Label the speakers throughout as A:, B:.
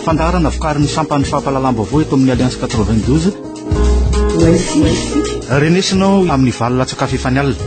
A: Fandaharana vokarin'ny sampan'ny fampahalalam-baovao eto amin'ny Alliance 92. Renesina ao amin'ny valo latsakafy efa ny alina.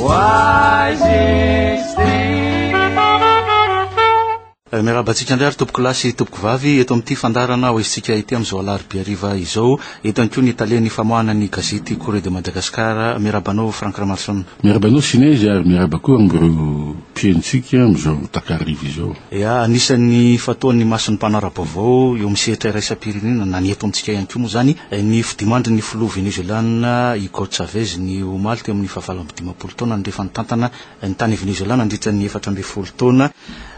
A: Oasis. Miarahaba antsika indray ary tompokolahy sy tompokovavy eto amin'ity fandaharana hoezintsika ity amin'izao alarobia hariva izao. Eto ihany koa ny talen'ny famoahana ny gazety Correo de Madagascar. Miarahaba anao Franck Ramaroson. Miarahaba anao Sinezy
B: ary miarahaba koa amin'ireo mpihainontsika amin'izao takariva izao. Ia, anisan'ny
A: fataon'ny mason'ny mpanao ara-baovao eo amin'ny sehatra iraisam-pirenena na ny eto amintsika ihany koa moa izany ny fidimandrin'ny filoha Venezoelana Hugo Chavez ny omaly teo amin'ny fahavalo amby dimampolo taona nirefany tantana ny tany Venezoelà nandritra ny efatra ambin'ny folo taona.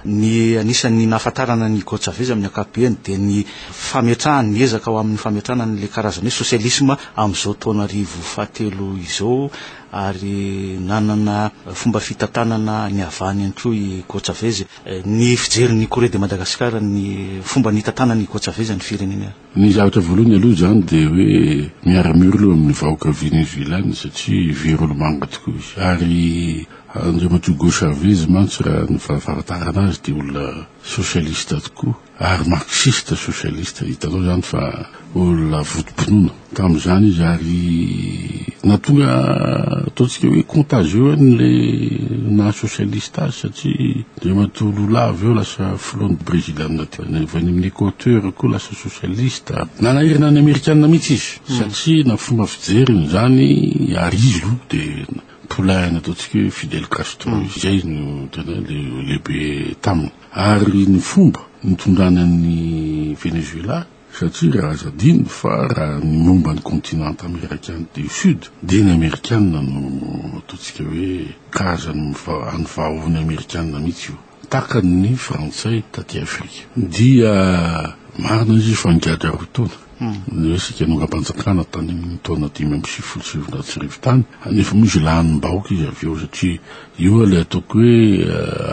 A: Ny anisan'ny nahafantarana an'i Hugo Chavez amin'ny ankapobeny dia ny fametrahany, ny ezaka ho amin'ny fametrahana an'ilay karazana hoe sosialisma amin'izao taona arivo fahatelo izao ary nanana fomba fitantanana niavahany ihany koa i Hugo Chavez. Ny fijerin'ny Correo de Madagascar ny fomba nitantanan'i Hugo Chavez ny firenena. Ny zavatra voalohany
B: aloha izany dia hoe miara-miory aloha amin'ny vahoaka Venezoelàna satria very olomanga tokoa izy. Ary Andriamatoa Hugo Chavez mantsy raha ny fahafantarana azy dia olona sosialista tokoa ary marxista sosialista. Hitanao izany fa olona votom-pinoana tamin'izany izy ary nahatonga ataontsika hoe contagieux an'ilay naha-sosialista azy satria Andriamatoa Lula avy eo lasa filohan'ny Breziliana teo. Avy any amin'ny Equateur koa lasa sosialista. Nanahirana ny Amerikana mihitsy izy satria na fomba fijeriny izany ary izy aloha dia poulain nataontsika hoe Fidel Castro izay no tena le lehibe taminy. Ary ny fomba nitondrany an'i Venezuela. Satria aza adino fa raha ny momba ny kontinanta amerikana du sud dia ny amerikana no ataontsika hoe karazan'ny any vahaohon'ny amerikana mihitsy io, takan'ny frantsay taty afrika. Dia marina izy io fa nigadra roa taona ny resaka nongam-panjakana tany amin'ny taona dimy amby sivifolo sy sivinjato sy arivo tany, nefa moa izy lanin'ny bahoaka izy avy eo satria, Io ilay ataoko hoe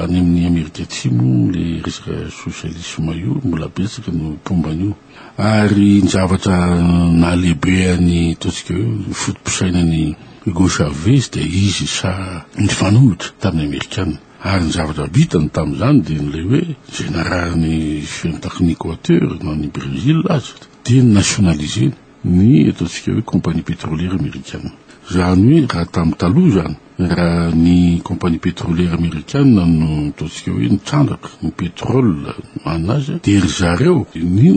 B: any amin'ny Amerika Atsimo ilay resaka sosialisma io, mbola betsaka no mpomba an'io. Ary ny zavatra nahalehibe an'i Trotsky io, ny foto-pisainan'i Hugo Chavez dia izy saha nifanolotra tamin'ny Amerikana. Ary ny zavatra vitany tamin'izany dia ilay hoe izay narahan'ny fiantakn'i Equateur na ny Brésil aza dia nationaliser-ny. ny eto antsika hoe compagnie petroliera amerikana. Izany hoe raha tamin'ny taloha izany, raha ny compagnie petroliera amerikana no ataontsika hoe nitrandraka ny pétrole an' azy, dia ry zareo no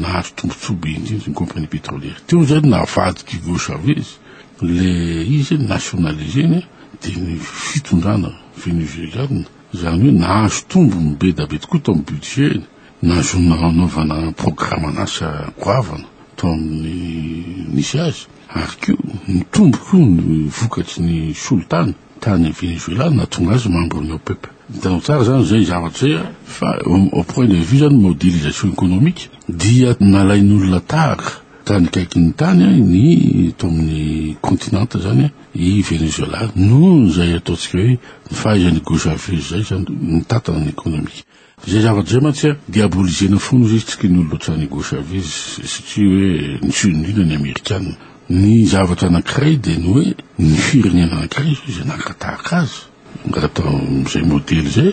B: nahazo tombontsoa be indrindra ny compagnie petroliera. Teo izany navadika i Hugo Chavez ilay izy nationaliser-ny dia ny fitondrana venezueliana, izany hoe nahazo tombony be da be tokoa tao amin'ny budget-ny. Nahazoana hanaovana programan'asa goavana tao amin'ny nisy azy, ary koa nitombo koa ny vokatry ny solitany tany Venezuela nahatonga azy membre ny OPEP. Hitanao tsara izany izay zavatra izay a, fa au point de vue izany modélisation économique dia nalain'olona tahaka tany akaikin'ny tany ny eto amin'ny continent izany i Venezuela noho izay ataontsika hoe ny fahaizan'i Gojaveus izay izany mitantana ny économique. Izay zavatra izay mantsy a, diabolisena foana izy io, tsy kin'olona ohatran'i Hugo Chavez, satria hoe niseho indrindra ny Amerikana. Ny zavatra anankiray dia ny hoe ny firenena anankiray zao izay nankatahaka azy, angata amin'izay modely izay,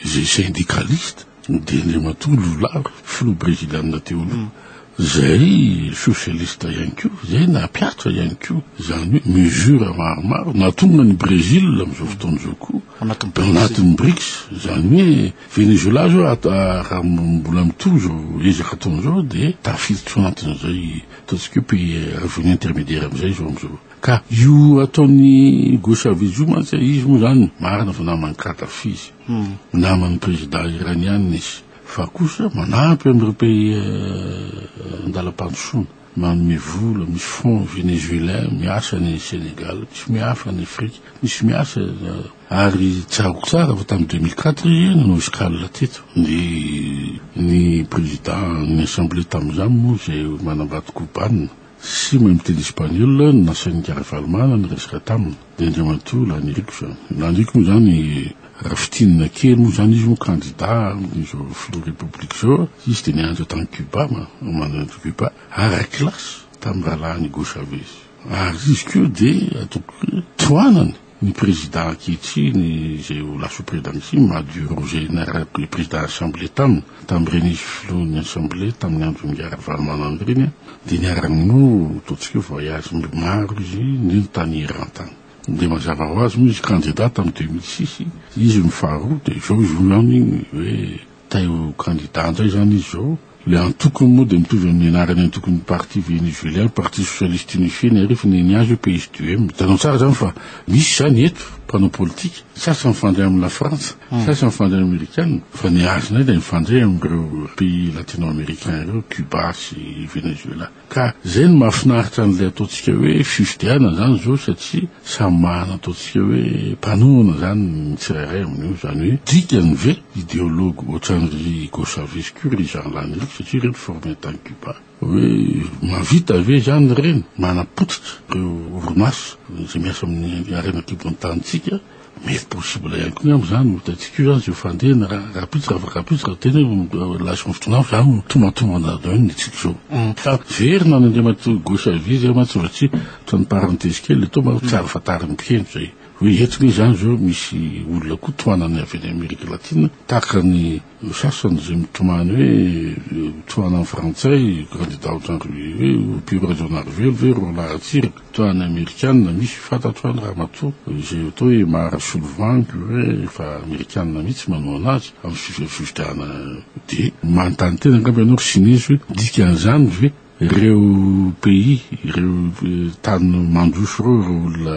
B: izay syndicaliste, dia Andriamatoa Lula, filoha breziliana teo aloha, izay socialiste ihany koa, izay nampiatra ihany koa izany hoe mesures maromaro nahatonga an'i Brezila amin'izao fotoana izao koa, anatin'ny Brics. Anatin'ny Brics, izany hoe Venezoelà izao raha mbola mitohy izao ezaka ataony izao dia tafiditra ao anatin'izay ataontsika hoe pays revenu intermédiaire amin'izay izao amin'izao. Ka io ataon'i Hugo Chavez io mantsy, izy moa izany marina fa naman'i Kadhafi izy, naman'ny prezidà iraniàna izy, fa kosa manampy an'ireo pays an-dalam-pandrosoana. Manome vola, misy fonds Venezuelin, miasa ny Senegal, misy miafa any Afrika, misy miasa ary tsaroako tsara fa tamin'ny deux mille quatre izy io nanao escale teto dia ny président ny assemblée tamin'izany moa izay manambady Cubana sy mahay miteny Espagnol no nasain'i Ravalomanana niresaka taminy. Dia Andriamatoa Laniriako izany. Laniriako moa izany raha fintinina kely moa izany izy moa kandida amin'izao filoha Repoblika izao. Izy dia nianatra tany Cuba, manana Cuba, ara kilasy tamin'ny rahalahiny Hugo Chavez. Ary izy koa dia ataoko hoe tohanany ny prezida ankehitriny izay ho lasa prezida ankehitriny Maduro izay niaraka prezida assemblée taminy, tamin'ireny izy filohan'ny assemblée tamin'ny andron'i Ravalomanana ireny. Dia niarany no ataontsika hoe voyage maro izy nino tany Iran tany. Dia mazava ho azy moa izy candidat tamin'ny deux mille six izy no faharoa dia izao izy roa ihany hoe tay ho candidat indray izany izy izao. Ilay antokony moa dia mitovy amin'ny anaran'ny antokon'ny parti venezuelien, parti socialiste unifié, niarifiny ny azy hoe PSDUM. Hitanao tsara izany fa misy izany eto mpanao politika, ny sasany mifandray amin'ny la frantsa, Saisin'ny fandriana amerikana fa ny azy indray dia mifandray amin'ireo pays latino-américains ireo, Cuba sy Venezuela. Ka izay no mahafinaritra an'ilay ataontsika hoe fifidianana izany izao satria samy mahana ataontsika hoe mpanohana izany ny tsirairay amin'io. Izany hoe dikany ve ideologue ohatran'i Hugo Chavez koa ry Jean Lany ireo satria ireo niformer tany Cuba? Hoe mahavita ve izany ireny manapotika ireo orinasa izay miasa amin'ny harena an-kibon'ny tanintsika? Mety possible ihany koa angamba izany, hitantsika eo izany izay fandehana raha rahampitso raha afaka rahampitso raha tena hoe relation ny fotoana hafa izany no tombantombana avy eo ny antsika izao. Fa very na ny Andriamatoa Gauchavi izay mantsy mba tsy atao ny parenthèse kely eto mba tsy ahafantarin'ny mpiheno izay hoe eto ve izany izao misy olona koa tohanan'ny avy any Amerika Latina tahaka ny Ny sasany izay mitomany hoe tohana ny frantsay, kandida ohatran'ny ry hoe mpino Rajaonarivelo ve ry roalahy Ratsiraka, toa any amerikana misy fantatro any ramatoa izay atao hoe Mara Solovang hoe efa amerikana mihitsy manohana azy amin'ny fifidianana dia manontany tena angamba ianao ry sinezy hoe dikan'izany ve Ireo pays, ireo tany mandroso ireo, ireo olona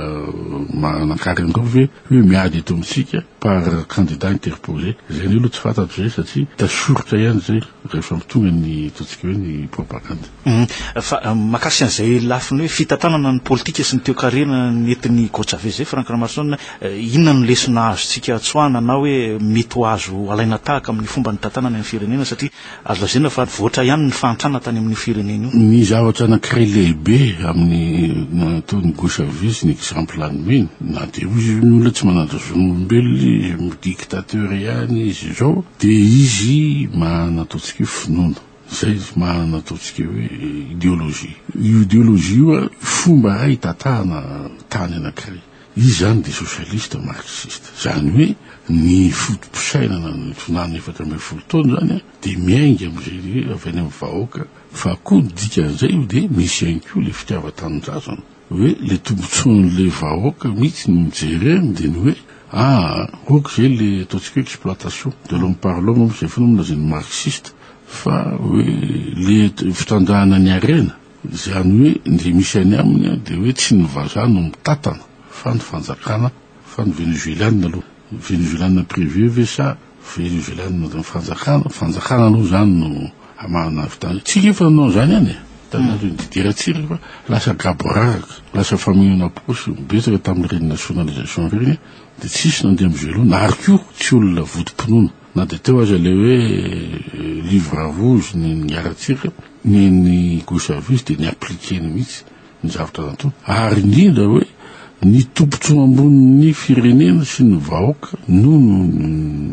B: manan-karena ireo ve hoe miady eto amintsika par candidat interpole? Izay indray aloha tsy fantatro izay satria hita soritra ihany izay rehefa mitonga ny ataontsika hoe ny propagande. Fa
A: mahakasika an'izay lafiny hoe fitantanana ny politika sy ny toekarena nentin'i Hugo Chavez izay, Franck Ramaroson, inona no lesona azontsika atsoahana na hoe mety ho azo alaina tahaka amin'ny fomba nitantanany ny firenena satria Azo lazaina fa nivoatra ihany ny fahantrana tany amin'io firenena io. Ny zavatra anankiray
B: lehibe amin'ny nataon'i Gouchavis, ny exemple nomeny, na dia hoy izy io ny olona tsy manaja zon'olombelona izy, dictateur ihany izy izao, dia izy maha ny ataontsika hoe finoana. Izay izy maha ny ataontsika hoe ideologie. Io ideologie io fomba iray hitatahana tany anankiray. Izy izany dia sosialista marksista. Izany hoe ny foto-pisainana ny tsunami efatra ambin'ny folo taona izany dia miainga amin'izay avy any amin'ny vahoaka fa koa ny dikan'izay io dia misy ihany koa ilay fitiavan-tanindrazana hoe ilay tombotsoan'ilay vahoaka mihitsy no jereny dia ny hoe ah ok izay ilay ataontsika hoe exploitation de l'homme par l'homme moa izay foana moa lazain'ny marxiste fa hoe ilay fitrandrahana ny harena. Izany hoe ndry misy any aminy dia hoe tsy ny vazaha no mitatana fa ny fanjakana fa ny Venezuelana aloha Venezuelana privé ve sa Venezuelana fanjakana fanjakana aloha izany no amarina avy tany tsika efa nanao izany ihany e tany aloha Didier Ratsiraka fa lasa gaboraraka lasa famonoana posy betsaka tamin'ireny nationalisation ireny dia tsisy nandeha amin'izay loha na ary koa tsy olona votom-pinoana Na dia teo aza ilay hoe livre rouge ny niaratsika, ny ny Gosavis dia ni-appliquer-ny mihitsy ny zavatra nataony. Ary indrindra hoe ny tombotsoa ambonin'ny firenena sy ny vahoaka no no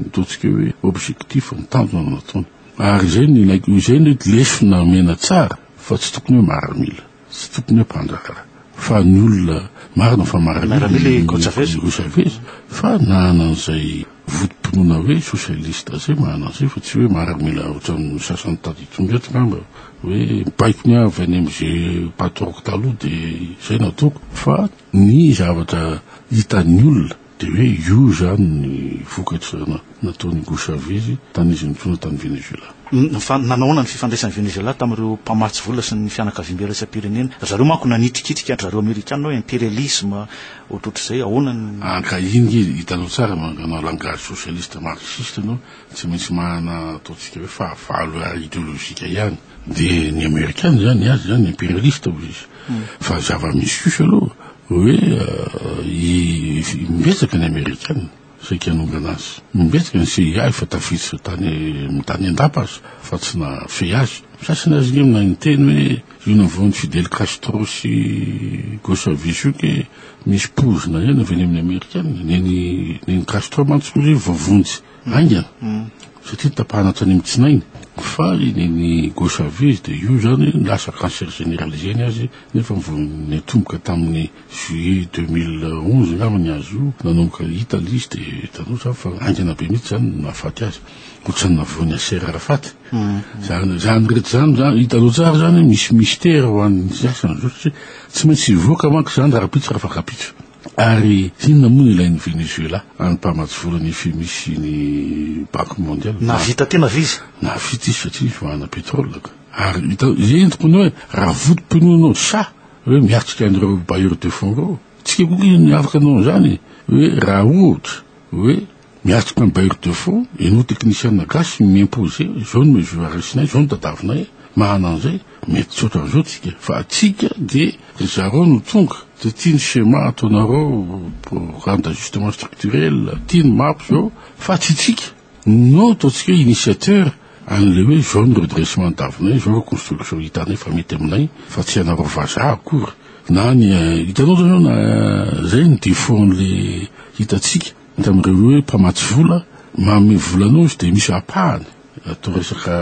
B: ataontsika hoe objectif, ny tanjona no nataony. Ary izay no ilaiko, izay no lesona omena tsara fa tsy tokony hoe maramila. Tsy tokony hampanjaka fa ny olona marina fa marina ny Hugo Chavez fa na anan'izay votom-pinoana hoe socialiste zay manana an'izay fa tsy hoe maramila otran'ny sasany tato ito ndraiky ngamba hoe baiko ny avy any am'ze mpataoko taloha de zay nataoko fa ny zavatra hitan'ny olona Dia hoe io izany ny vokatra nataon'i Hugo Chavez tany izy nitrona tany Venezuela. Fa nanahoana ny
A: fifandraisan'i Venezuela tamin'ireo mpamatsy vola sy ny fianakaviam-be iraisam-pirenena? Ry zareo manko nanitrikitrika an-dry zareo Amerikana hoe imperialisma ohatrohatr'izay, ahoana ny. Ankahy nge,
B: hitanao tsara manao langage socialiste marxiste ianao, tsy maintsy manana ataontsika hoe fahavalo ideologique ihany. De ny amerikana zany ny azy zany imperialista hozy izy fa zava-misy kosa aloha hoe i mimbetsaka ny amerikana saika hanongana azy mimbetsaka ny CIA efa tafiditra tany tany an-dapa aza fa tsy nahafehy azy ny sasany aza nge mahay miteny hoe io navoan'i Fidel Castro sy Gossavy io ke misy poizina ihany avy any amin'ny amerikana nen'i nen'i Castro mantsy hozy vao vonjy Haingana, satria tapahana hatrany amin'ny tsinainy. Fa iny ny gauche à vue izy dia io izany ny lasa cancer generalisé ny azy nefa vao niatomboka tamin'ny juillet deux mille onze angamba ny azy io, nanomboka hita ilay izy dia hitanao izany fa haingana be mihitsy izany no nahafaty azy. Ohatran'ny nahavoan'i Yasser Arafat. Izany izany rehetra izany izany hitanao tsara izany hoe misy mystère ho an'ny sasany izao satria tsy maintsy hivoaka manko izany rahampitso raha fakan-pitso. Ary inona moa no ilain'i Venezuela any mpamatsivola ny FMI sy ny Banque Mondiale? Nahavita tena ve izy?
A: Nahavita izy satria
B: izy manana pétrole ka. Ary hitanao, henoko hono hoe raha votom-pinoanao sa hoe miatrika an'ireo bailleurs de fonds ireo? Tsika koa kay ny afaka hanao an'izany e! Hoe raha ohatra hoe. Miatrika amin'ny bailleur de fonds, ianao teknisiana gasy mi-imposer, izao no mes URSnay, izao no tadavinay, mahana an'izay, mety tsy ohatran'izao tsika, fa atsika dia ry zareo no tonga, dia tia ny schéma ataonareo, programme d'ajustement structurel, tia ny map izao, fa tsy tsika, no ataontsika initiateur an'ilay hoe izao no redressement ny tavinay, izao ireo construction hitanay fa mety aminay, fa tsy anareo vazaha akory, na ny, hitanao izany hoe na, izay no defaut an'ilay hitantsika. Hita amin'ireo hoe mpamatsy vola, manome vola anao izy dia misy ampahany atao resaka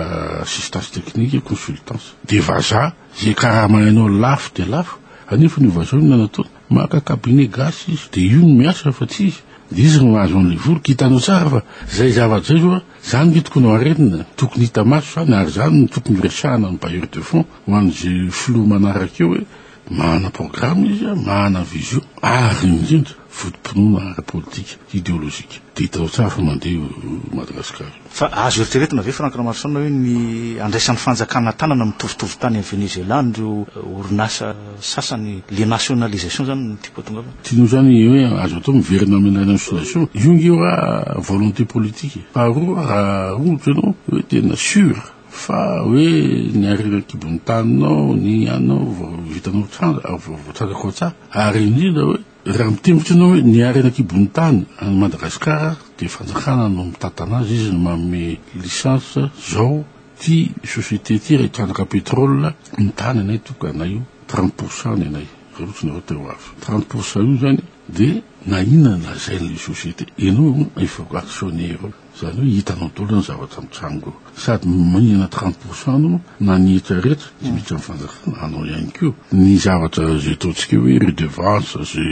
B: assistance technique, consultance. Dia vazaha izay karama hainao lafo dia lafo, anefany io vazaha io na nataony maka cabinet gasy izy dia io no miasa fa tsy izy, dia izy no mahazo an'ilay vola. Ka hitanao tsara fa izay zava-dizay izao a, izany ve tokony ho arenina, tokony hita maso izany ary izany no tokony ho resahana amin'ny bailleur de fonds ho an'izay filoha manaraka eo hoe Manana programme izy, manana vision ary indrindra voto-pinoana ara-politika, ideolojika. Dia hitanao tsara fa mandeha io Madagasikara io. Fa azo
A: eritreretina ve Franck Ramaroson hoe ny andraisan'ny fanjakana an-tanana mitovitovy tany amin'ny Venezuela an'ireo orinasa sasany, le nationalisation izany no tiako atongavana? Tianao izany hoe
B: azo atao miverina amin'ny nationalisation? Io nge raha volonté politique e. Faharoa raha ohatra ianao hoe tena sur Fa hoe ny harena an-kibon'ny taninao, ny anao vao vitanao tranga, vao voatrandraka ao an-tsaha. Ary indrindra hoe, raha mitengitra ianao hoe ny harena an-kibon'ny tany an'i Madagasikara dia fanjakana no mitantana azy, izy no manome licence zao, ity société ity raha hitrandraka pétrole ny tany anay tokana io, trente pourcent ny anay, raha ohatry ny ianao te ho avy. Trente pourcent io izany. De na inona ny lazain'ny société, enao hono efa actionnaire eo, zany hoe hitanao daholo ny zavatra mitranga eo. Sady manana trente pour cent anao na ny hetra rehetra de miditra amin'ny fanjakana, anao ihany koa. Ny zavatra ze ataontsika hoe redevance, ze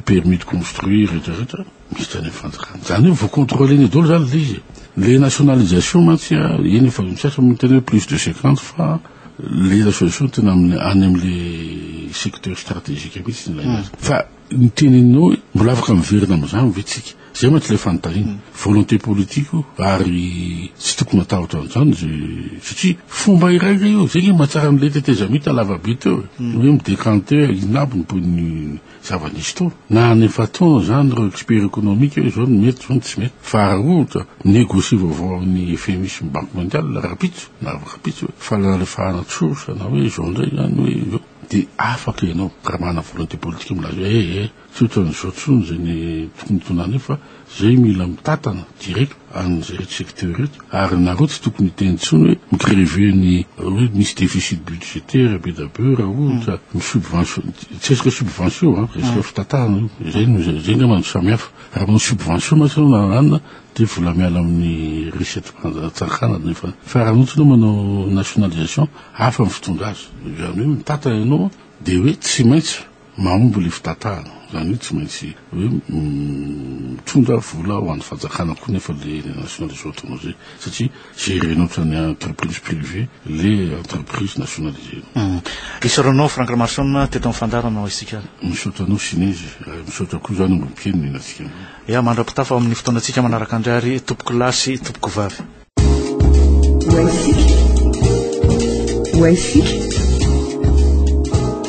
B: permis de construire rehetra rehetra miditra any amin'ny fanjakana. Zany hoe vo contrôle-nao daholo zany le izy e. Le nationalisation mantsy a, eny efa misaotra miteny hoe plus de cinquante fa. Lela soa soa tena any amin'ilay secteur stratégique mihitsy ilay mm. azy. Fa ny teninao mbola afaka miverina amin'izany ve tsika? Zay mantsy ilay fanontaniana. Mm. Volonté politique ary tsy tokony atahotra an'izany zay satria fomba iray ilay eo. Zay ny mahatsara an'ilay tetezamita lavabe teo. Mm. Hoe mi-décanter inabo ny zava-nisy tao. Na any efa-temps izany ireo expert ekonomika hoe izao no mety, izao no tsy mety. Fa raha ohatra, mi-negocier vaovao amin'ny FMI sy ny Banque Mondiale rahampitso, na rahampitso hoe fa nalefahana tsosa na hoe izao indray izany hoe izao, dia afaka ianao raha manana volonté politique milaza hoe eh eh, tsy ohatran'izao intsony izay ny tokony ho tonanay fa, Zay mila mitatana direct an'izay secteur ireto ary nareo tsy tokony hiteny tsony hoe mi-grever ny hoe misy deficit budgetaire be da be raha ohatra ny subvention tsy resaka subvention an resaka fitatahana io izay no izay izay angamba no samihafa raha manao subvention mantsy ianao na anona dia vola miala amin'ny recette fanjatsakana nefa fa raha ohatra ianao manao nationalisation hafa ny fitondra azy izany hoe mitata ianao dia hoe tsy maintsy Mahomby ilay fitatahana, izany hoe tsy maintsy hoe mitondra vola ho an'ny fanjakana koa nefa ilay eny Nation Resort-nao izay satria gérer-nao ohatran'ny entreprise privée ilay entreprise nationalisée-nao. Isaoranao
A: Franck Ramaroson teto amin'ny fandaharana hoy isika ary. Misaotra anao Sinezy
B: ary misaotra koa izany Ombin'Mpiheno nihaino antsika androany. Ya, mandra-pitafa ao
A: amin'ny fotoanantsika manaraka indray ary Tompokolahy sy Tompokovavy.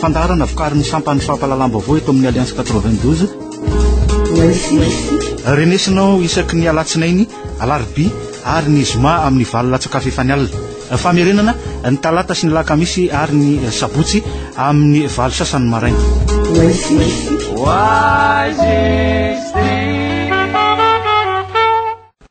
A: Fandaharana vokarin'ny sampan'ny fampahalalam-baovao eto amin'ny Alliance 92. Renesinao isaky ny alatsinainy, alarobia ary ny zoma amin'ny valo latsaka fefany alina. Famerenana ny talata sy ny lakamisy ary ny sabotsy amin'ny valo sasany maraina.